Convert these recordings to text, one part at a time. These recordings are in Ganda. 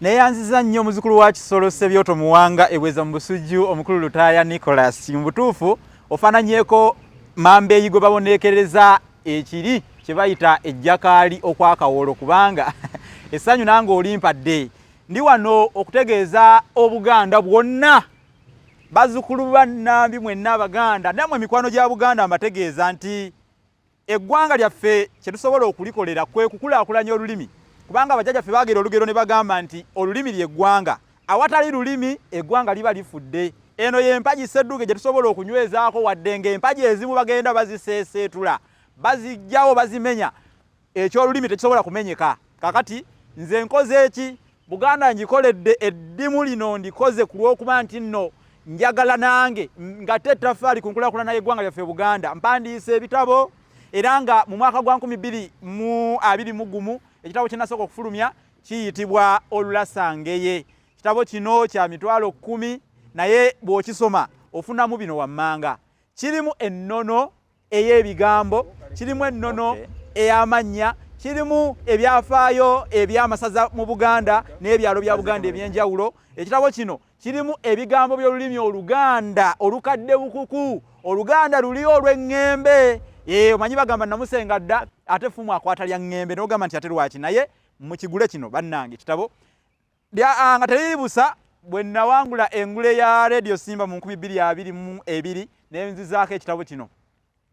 neyanziza nnyo omuzukulu wa kisolo sebyoto muwanga ebweza mu busujju omukulu lutaaya nicolas mu butuufu ofaananyeko mamba eyi gwe baboneekereza ekiri kye bayita ejjakaali okwakawolo kubanga essanyu nange olimpadde ndi wano okutegeeza obuganda bwonna bazukulu bannambi mwenna abaganda namwe emikwano gya buganda mbategeeza nti Eggwanga lyaffe kye tusobola okulikolera kwe kukulaakulanya olulimi kubanga bajjajja ffe baagera olugero ne bagamba nti olulimi ly'eggwanga. Awatali lulimi eggwanga liba lifudde. Eno y'empagi Ssedduge gye tusobola okunywezaako wadde ng'empagi ezimu bagenda baziseeseetula, baziggyawo, bazimenya. Eky'olulimi tekisobola kumenyeka. Kaakati nze nkoze ki? Buganda ngikoledde eddimu lino ndikoze ku lw'okuba nti nno njagala nange ngate ettaffaali ku nkulakulana y'eggwanga lyaffe Buganda. Mpandiise ebitabo era nga mu mwaka gwa nkumi bbiri mu abiri mu gumu ekitabo kye nasooka okufulumya kiyitibwa Olulasangeye. Ekitabo kino kya mitwalo kkumi naye bw'okisoma ofunamu bino wammanga. Kirimu ennono ey'ebigambo kirimu ennono ey'amannya kirimu ebyafaayo eby'amasaza mu buganda n'ebyalo bya buganda eby'enjawulo ekitabo kino kirimu ebigambo by'olulimi oluganda olukadde bukuku oluganda luli olw'eŋŋembe ee omanyi bagamba namusenga dda ate fumu akwata lya ŋŋembe n'ogamba nti ate lwaki naye mukigule kino bannange kitabo Bya anga teriri busa bwe nawangula engule ya radio simba mu 2022 ne nzizaako ekitabo kino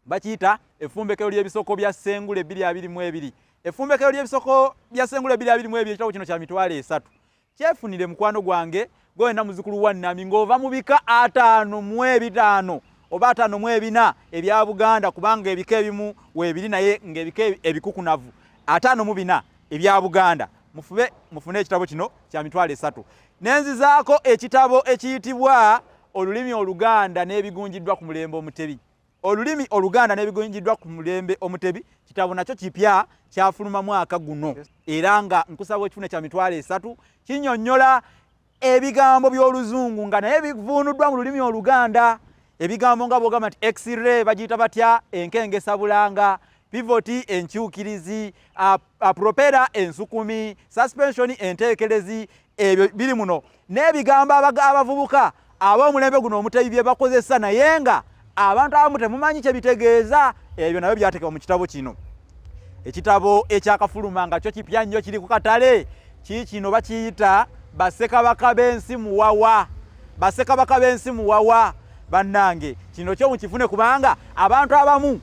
bakiyita efumbekero ly'ebisoko bya sengule 2022 efumbekero ly'ebisoko bya sengule 2022 ekitabo kino kya mitwalo esatu kyefunire mukwano gwange gwena muzukulu wa nami ng'ova mu bika ataano mu ebitaano oba ataano mu ebina ebya buganda kubanga ebika ebimu weebiri naye ng'ebika ebikukunavu ataano mu bina ebya Buganda mufube mufune ekitabo kino kya mitwalo esatu nenzizaako ekitabo ekiyitibwa olulimi oluganda n'ebigunjiddwa ku mulembe omutebi olulimi oluganda n'ebigunjiddwa ku mulembe omutebi kitabo nakyo kipya kyafuluma mwaka guno era nga nkusaba ekifune kya mitwalo esatu kinyonyola Ebigambo by'oluzungu nga naye bivuunuddwa mu lulimi oluganda. Ebigambo nga bwogamba nti x-ray bagiyita batya enkengesa bulanga pivoti enkyukirizi apropera ensukumi suspensioni enteekerezi ebyo biri muno n'ebigambo abavubuka ab'omulembe guno omutebi bye bakozesa naye nga Abantu abamu temumanyi kye bitegeeza, ebyo nabyo byateekebwa mu kitabo kino. Ekitabo ekyakafuluma nga kyo kipya nnyo kiri ku katale, kiikino bakiyita Bassekabaka b'ensi muwawa. Bassekabaka b'ensi muwawa, bannange, kino kyo mukifune kubanga abantu abamu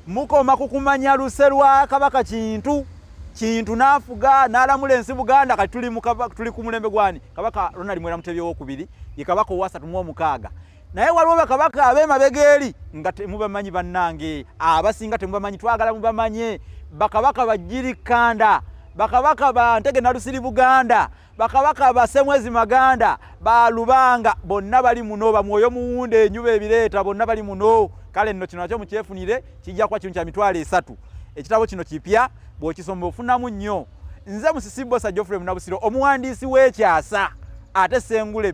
mukoma ku kumanya luse lwa Kabaka Kintu. Kintu n'afuga n'alamula ensi Buganda, kati tuli ku mulembe gwani? Kabaka Ronald Mwera Mutebi owokubiri ye Kabaka owasatu mu omukaaga. naye waliwo bakabaka abemabega eri nga temubamanyi bannange abasinga temubamanyi twagala mubamanye bakabaka bajirikanda bakabaka ba ntege nalusiri buganda bakabaka basemwezi maganda balubanga bonna bali muno bamwoyo muwunda enyuba ebireeta bonna bali muno kale nno kino nakyo mukyefunire kijja kuba kino kya mitwalo esatu ekitabo kino kipya bwokisoma ofunamu nnyo nze musisibosa jofre munabusiro omuwandiisi w'ekyasa ate sengule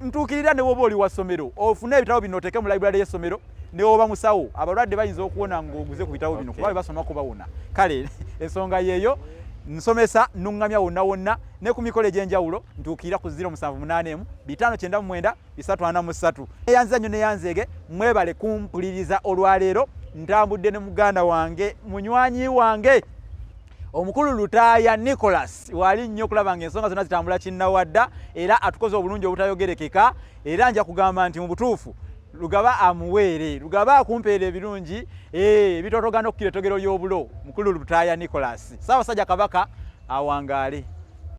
ntuukirira ne woba oli wa ssomero ofune ebitabo bino oteeke mu library y'essomero ne woba musawo abalwadde bayinza okuwona ng'oguze ku bitabo bino kuba be basoma kubawona kale ensonga yeeyo nsomesa nuŋŋamya wonna wonna ne ku mikolo egy'enjawulo ntuukirira ku 0781 599 343 eyanziza nnyo neyanzeege mwebale kumpuliriza olwaleero ntambudde ne muganda wange munywanyi wange omukulu lutaaya nicholas waali nnyo okulaba nga ensonga zonna zitambula kinnawadda era atukoze obulungi obutayogerekeka era nja kugamba nti mu butuufu lugaba amuweere lugaba akumpeera ebirungi eh, ebitotogana okukira etogero ly'obulo mukulu lutaaya nicholas saabasajja kabaka awangaale